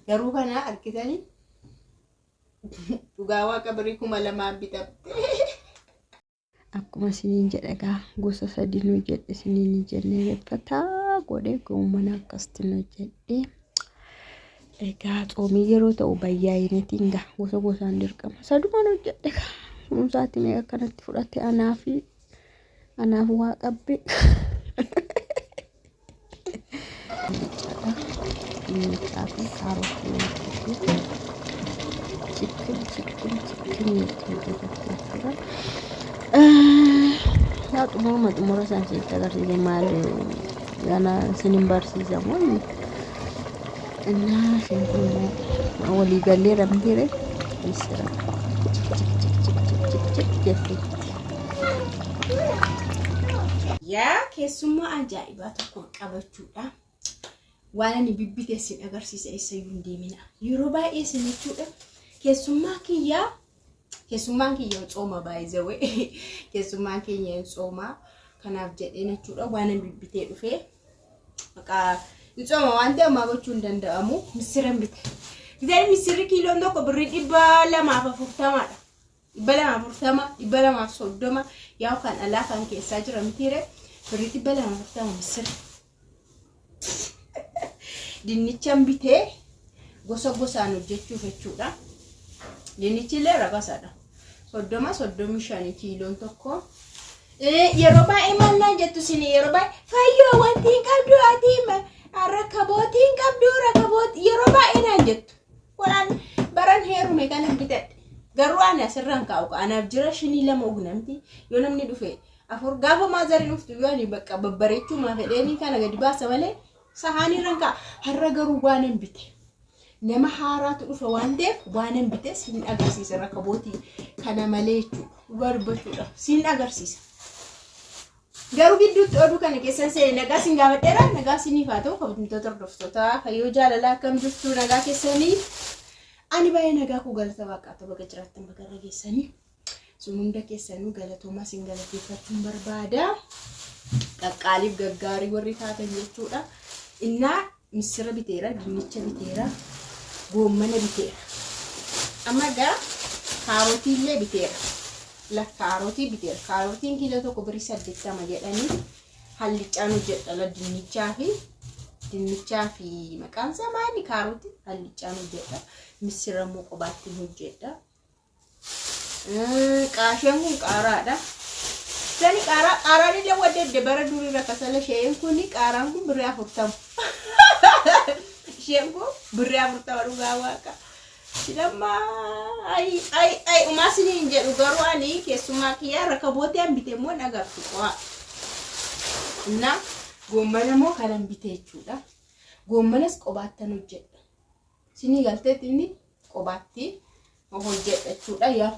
Garuu kana argitanii dhugaa waaqa birii kuma lamaan bitamte. Akkuma isiniin jedhe egaa gosa sadii nu jedhe isiniin hin jenne beekfataa godhe goomana akkasitti nu jedhe. Egaa tsoomii yeroo ta'u bayyaa'inatiin gaa gosa gosaan dirqama saduma nu jedhe gaa kunuunsaatti mee akkanatti fudhate anaa fi anaaf waa qabbe. Dinnichadha. Dinnichaa fi kaarootii nyaachisuuf chikkin chikkin chikkin nyaachuu keessatti jechuudha. Yaa xumuruma xumura isaan sitti agarsiise maal gana isin hin barsiisamu. Innaa isheen kun immoo walii gallee ramdiire missira jetti. Yaa keessummaa ajaa'ibaa tokko qabachuudha. Waan ani bibbite isin agarsiisa eessayyuu hin deemina. Yeroo baay'ee isin jechuudha keessummaa kiyyaa Keessummaan kiyya tsooma baay'ee keessummaan keenya hin tsooma kanaaf jedhee jechuudha waan hin bibbitee dhufee maqaa hin tsooma waan ta'e ammaa gochuu hin danda'amu missira hin bite. Bishaan missirri kiiloon tokko birrii dhibba lamaaf afurtamaadha. Dhibba lamaaf afurtama dhibba lamaaf soddoma yaa'u kan alaa kan keessaa jira mitiire birrii dhibba lamaaf afurtama missirri. Dinnichan bitee gosa gosaan hojjechuuf jechuudha. Dinnichi illee rabasadha. Soddoma soddomii shanii kiiloon tokko. Eh, Yeroo baay'ee maal naan jettu isin yeroo baay'ee fayyoo wanti hin qabdu ati ma- rakkabooti hin qabdu rakkabooti yeroo baay'ee naan jettu. Kunaan baran heerume kanan bitadhe. Garuu ani asirraan kaa'u anaaf jira shinii lama ugnamti yoo namni dhufe afur gaafa maazari dhuftu iyyuu ani bakka babbareechuumaa fedheenii kana gadi baasa malee sahaanii irran ka'a har'a garuu waan hin bite nama haaraatu dhufa waan ta'eef waan hin bite siin agarsiisa rakabootii kana malee jechuudha dhugaa dubbachuudha siin agarsiisa. Garuu gidduutti oduu kana keessan seene nagaa siin gaafadheera nagaa siiniif haa ta'u kabajamtoota hordoftootaa fayyoo jaalalaa akkam jirtu nagaa keessanii ani baay'ee nagaa koo galata waaqaatu baga jiraattan baga irra geessanii. sun hunda keessanuu galatoomaa sin galateeffachuun barbaada qaqqaaliif gaggaarii warri taatan jechuudha innaa missira biteera dinnicha biteera goommana biteera amma gaa kaarotii illee biteera la kaarotii biteera kaarotiin kiiloo tokko birii saddeettama jedhanii hallichaan hojjedha la dinnichaa fi dinnichaa fi maqaan isaa maali kaarotii hallichaan hojjedha missira immoo qobaattiin hojjedha Qaasheen kun qaaraadha. Sani qaaraa qaaraan illee wadda edde bara durii irra kasala sheen kun qaaraan kun birrii afurtama. Sheen kun birrii afurtama dhugaa waaqa. Damma ayi ayi ayi umaa sini hin jedhu garuu ani keessumaa kiyyaa rakka bootee an bitee immoo hin agartu qo'a. Innaa goommana immoo kanan bitee jechuudha. Goommanas qobaattan hojjedha. Isinii galteetti inni qobaatti hojjedha jechuudha. Yaa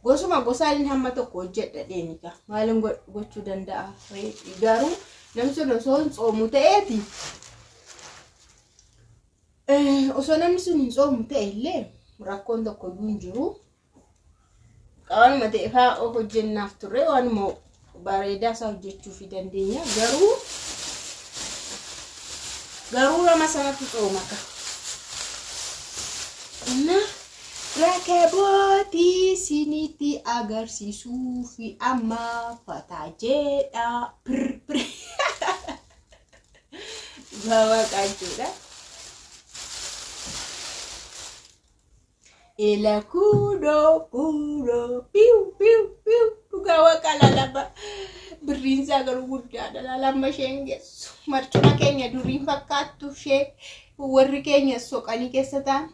gosuma gosaan hamma tokko hojjedha deemi gaa maalin gochuu danda'a garuu namni sun osoo hin tsoomu ta'eeti osoo namni sun hin tsoomu ta'e illee rakkoon tokko iyyuu hin jiru Qaanuma ta'e fa'aa of hojjennaaf turre waanuma bareedaa isaa hojjechuu fi dandeenya garuu garuu nama sanatu coomaka. Innaa rakabootii isinitti agarsiisuu fi amma fataa jedhaa pirr pirr. Baabaa qaachuudha. Ela kudo kudo piu piu piu dhugaa waaqaa laalaba birriin isaa garuu guddaadha laalamma isheen geessu marcuma keenya duriin fakkaattu ishee warri keenya soqanii keessa ta'an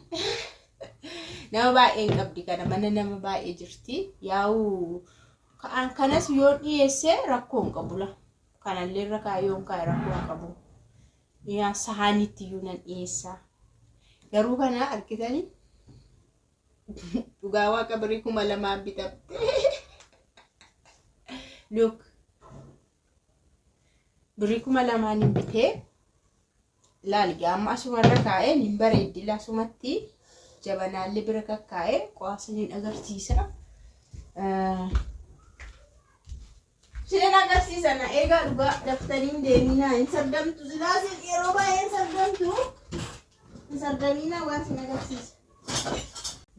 nama baay'een qabdi kana mana nama baay'ee jirti yaa'u ka'an kanas yoo dhiyeesse rakkoo hin qabula kanallee irra kaa'ee yoo hin kaa'e rakkoo hin qabu. Yaa sahaanitti iyyuu nan dhiyeessa. Garuu kana argitanii dhugaa waaqa birrii kuma lamaan bitamte. Look birrii kuma lamaan hin bitee laal gaa amma asumarra kaa'ee hin bareeddi lasumatti jabanaallee bira kakkaa'ee qo'aasaniin agarsiisa. Seera agarsiisa na eegaa dhugaa daftanii hin deemiinaa hin sardamtu silaa isin yeroo baay'ee hin sardamtu hin sardamiinaa waan isin agarsiisa.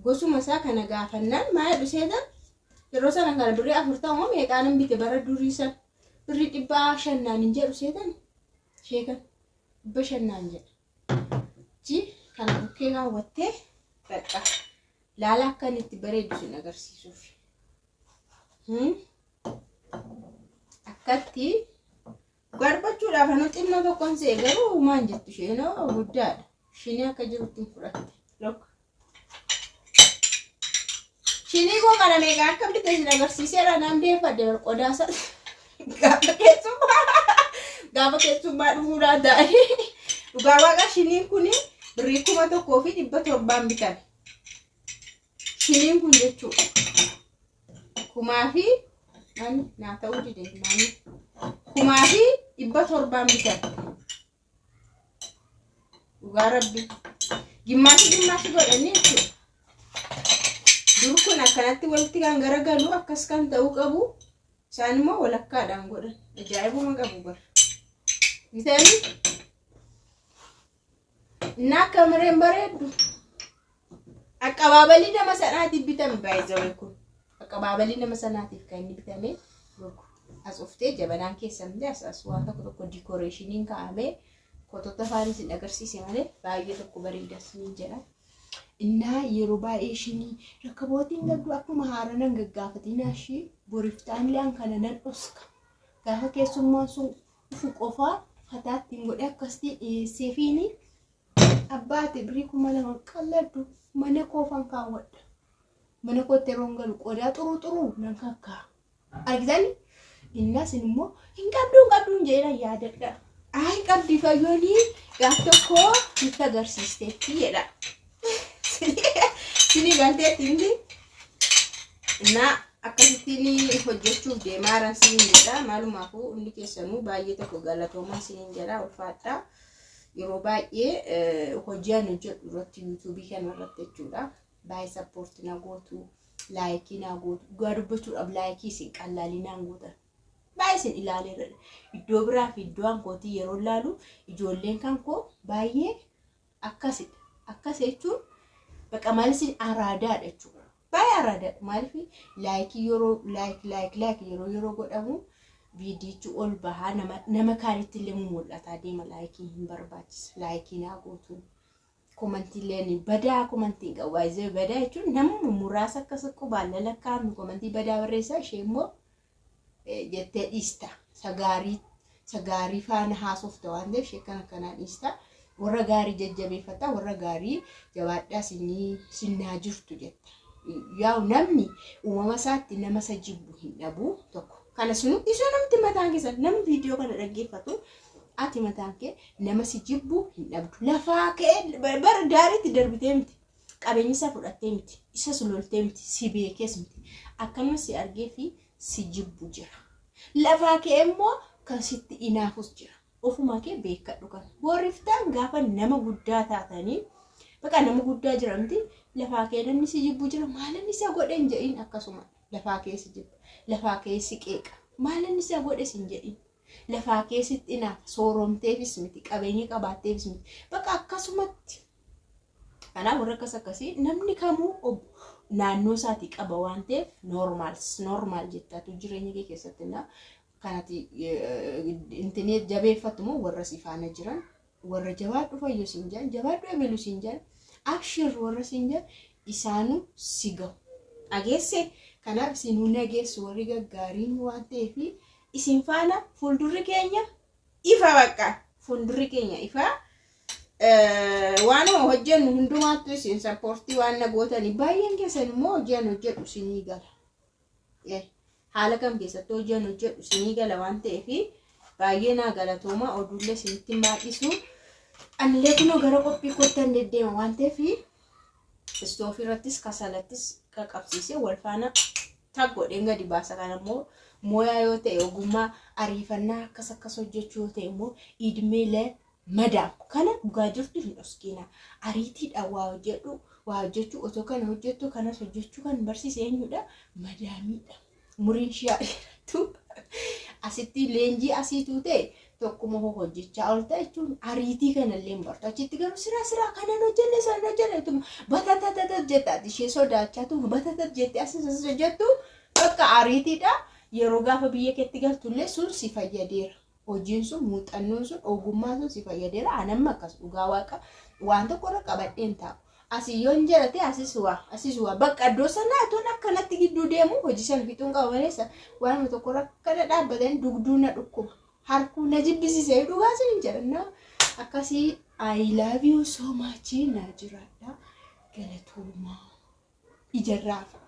Gosuma isaa kana gaafannaan maaya dhuseeta yeroo sana kana birrii afur ta'uu meeqaanan bite bara durii san birrii dhibbaa shannaan hin jedhu seetan sheekan dhibba shannaan jedha. Ji kana bukkee kaawwattee bakka laala akkan itti bareedu sin agarsiisuuf. Hmm? akkatti barbachuudhaaf anu xinnoo tokkoon se'e garuu uumaan jettu isheenoo guddaadha shinii akka jirutti hin fudhatte lokka shinii koo kana meeqa akka bitte isin agarsiiseera naan deeffadde bar qodaasa gaafa keessummaa gaafa keessummaa dhufuu laataa'e dhugaa waaqa shiniin kun birrii kuma tokkoo fi dhibba torbaan bitame shiniin kun jechuudha kumaa fi ani naa ta'uu dide naani kumaa fi dhibba torbaan bitadhe dhugaa rabbi gimmaashi gimmaashi godhanii jechuudha dur kun akkanatti walitti kan garagalu akkas kan ta'uu qabu isaan immoo walakkaadhaan godhan ajaa'ibuma qabu bara bitanii Innaa akka mareen bareeddu. Aqabaabalii nama sanaatiif bitame baay'ee kun. Aqabaabalii nama sanaatiif kan inni bitame look. As uftee jabanaan keessan illee as as waan tokko tokko dikoreeshiniin kaa'amee footota afaan isin agarsiise malee baay'ee tokko bareeda isiniin jedha. Innaa yeroo baay'ee ishinii rakkabootiin gadduu akkuma haaranan gaggaafatinaa ishii boriftaan illee an kana nan dhoska. Gaafa keessummaan sun dhufu qofaa fataa ittiin godhee akkasitti dhiyeesseefiini abbaate birii kuma lama qalladhu mana koofan kaawwadha. Mana kootti yeroon galu qodaa xuruu xuruu nan kakkaa. Argitan innas immoo hin qabdu hin qabdu hin jedhina yaadadha. Ayi qabdi fayyoonii gaaf tokko nutti agarsiisteetti jedha. Sinii galteetti miti. Innaa akkasittiin hojjechuuf deemaa jiran siniin jedha. Maalumaafuu hundi keessanuu baay'ee tokko galatoomaa siniin jedha ulfaadhaa. Yeroo baay'ee hojii ani hojjedhu irratti yuutuubii kana irratti jechuudha. Baay'ee sappoortii na gootu, laayikii na gootu. Dhugaa dubbachuudhaaf laayikii isin qallaalii naan gootan. Baay'ee isin ilaaleera. Iddoo biraa fi iddoo ankootii yeroo ilaalu ijoolleen kan koo baay'ee akkasidha. Akkas jechuun baqa maalisi araadaadha jechuudha. Baay'ee araadaadha. Maaliif laayikii yeroo laayik laayik laayik yeroo yeroo godhamu viidiyichi ol bahaa nama nama kaanitti illee mul'ataa deema laayikii hin barbaachisu laayikii naa gootu. Komantiileen badaa komantiin qabu baay'ee badaa jechuun namuma muraasa akkas qubaan lalakkaa'amnu komantii badaa barreessaa ishee immoo jettee dhiista. Isa gaarii isa gaarii faana haasofta waan ta'eef ishee kan akkanaa dhiista. Warra gaarii jajjabeeffata warra gaarii jabaadhaa sinii sinnaa jirtu jetta. Yaa'u namni uumama isaatti nama isa jibbu hin dhabu tokko. Kana sinu isa namti mataan keessa namni viidiyoo kana dhaggeeffatu ati mataan kee nama si jibbu hin dhabdu. Lafaa kee bara daariitti darbitee miti. Qabeenya isaa fudhattee miti. Isas loltee miti. Si beekees miti. Akkanuma si argee fi si jibbu jira. Lafaa kee immoo kan sitti inaafus jira. Ofumaa kee beekadhu kana. Booriftaan gaafa nama guddaa taatanii baqa nama guddaa jira miti. Lafaa kee namni si jibbu jira. Maalan isa godhe hin jedhin akkasuma. Lafaa kee si jibba. Lafaa kee si qeeqa. Maalan isa godhe sin jedhin. Lafaa kee sitti inaafa. Sooromteefis miti. Qabeenya qabaatteefis miti. Baqa akkasumatti Kanaaf warri akkas akkasii namni kamuu ob- naannoo isaatii qaba waan ta'eef normal normal jettaatu jireenya kee keessatti na kanati intini jabeeffattu moo warra si faana jiran warra jabaadhu fayyo siin jedhan jabaadhu ebelu siin jedhan abshir warra siin jedhan isaanu si gahu dhageesse kanaaf isinuu nageessu warri gaggaariin waan ta'eef isin faana fuuldurri keenya ifa bakka fuuldurri keenya ifa waanuma hojjennu hundumaattu isin sappoortii waan na gootanii baay'een keessan immoo hojiin hojjedhu isinii gala haala kam keessatti hojiin hojjedhu isinii gala waan ta'eef baay'ee naa galatooma oduullee isinitti hin baay'isu anillee kunoo gara qophii kottan deddeema waan ta'eef istoofii irrattis kasalattis qaqabsiisee wal faana tag godheen gadi baasa kan ammoo mooyaa yoo ta'e ogummaa ariifannaa akkas akkas hojjechuu yoo ta'e immoo idmeelee madaam kana dhugaa jirtu hin dhoskiina ariitiidhaan waa hojjedhu waa hojjechuu otoo kana hojjettu kanas hojjechuu kan barsiise eenyudha madaamiidha. umuriin ishii haa dheerattu. Asitti leenjii asii tuute tokkuma hoo hojjechaa oolta jechuun ariitii kanallee hin bartu. Achitti garuu siraa siraa kanan hojjenne san hojjenne tuma batatatatat jettaati ishee sodaachaa tuma batatat jettee asis asis hojjettu bakka ariitiidha. Yeroo gaafa biyya keetti galtullee sun si fayyadeera. hojiin sun muuxannoon sun ogummaan sun si fayyadeera an amma akkas dhugaa waaqa waan tokko irra qabadheen taa'u asii yoon jalate asis waa asis waa bakka iddoo sanaa atoon akkanatti gidduu deemu hojii sana fixuun qaba malee sa- waanuma tokko irra akkana dhaabbatan dugduu na dhukkuba harkuu na jibbisiise dhugaa sin hin jedhanna akkasii I love you so much na jiraadha galatoomaa ijarraa fa'a.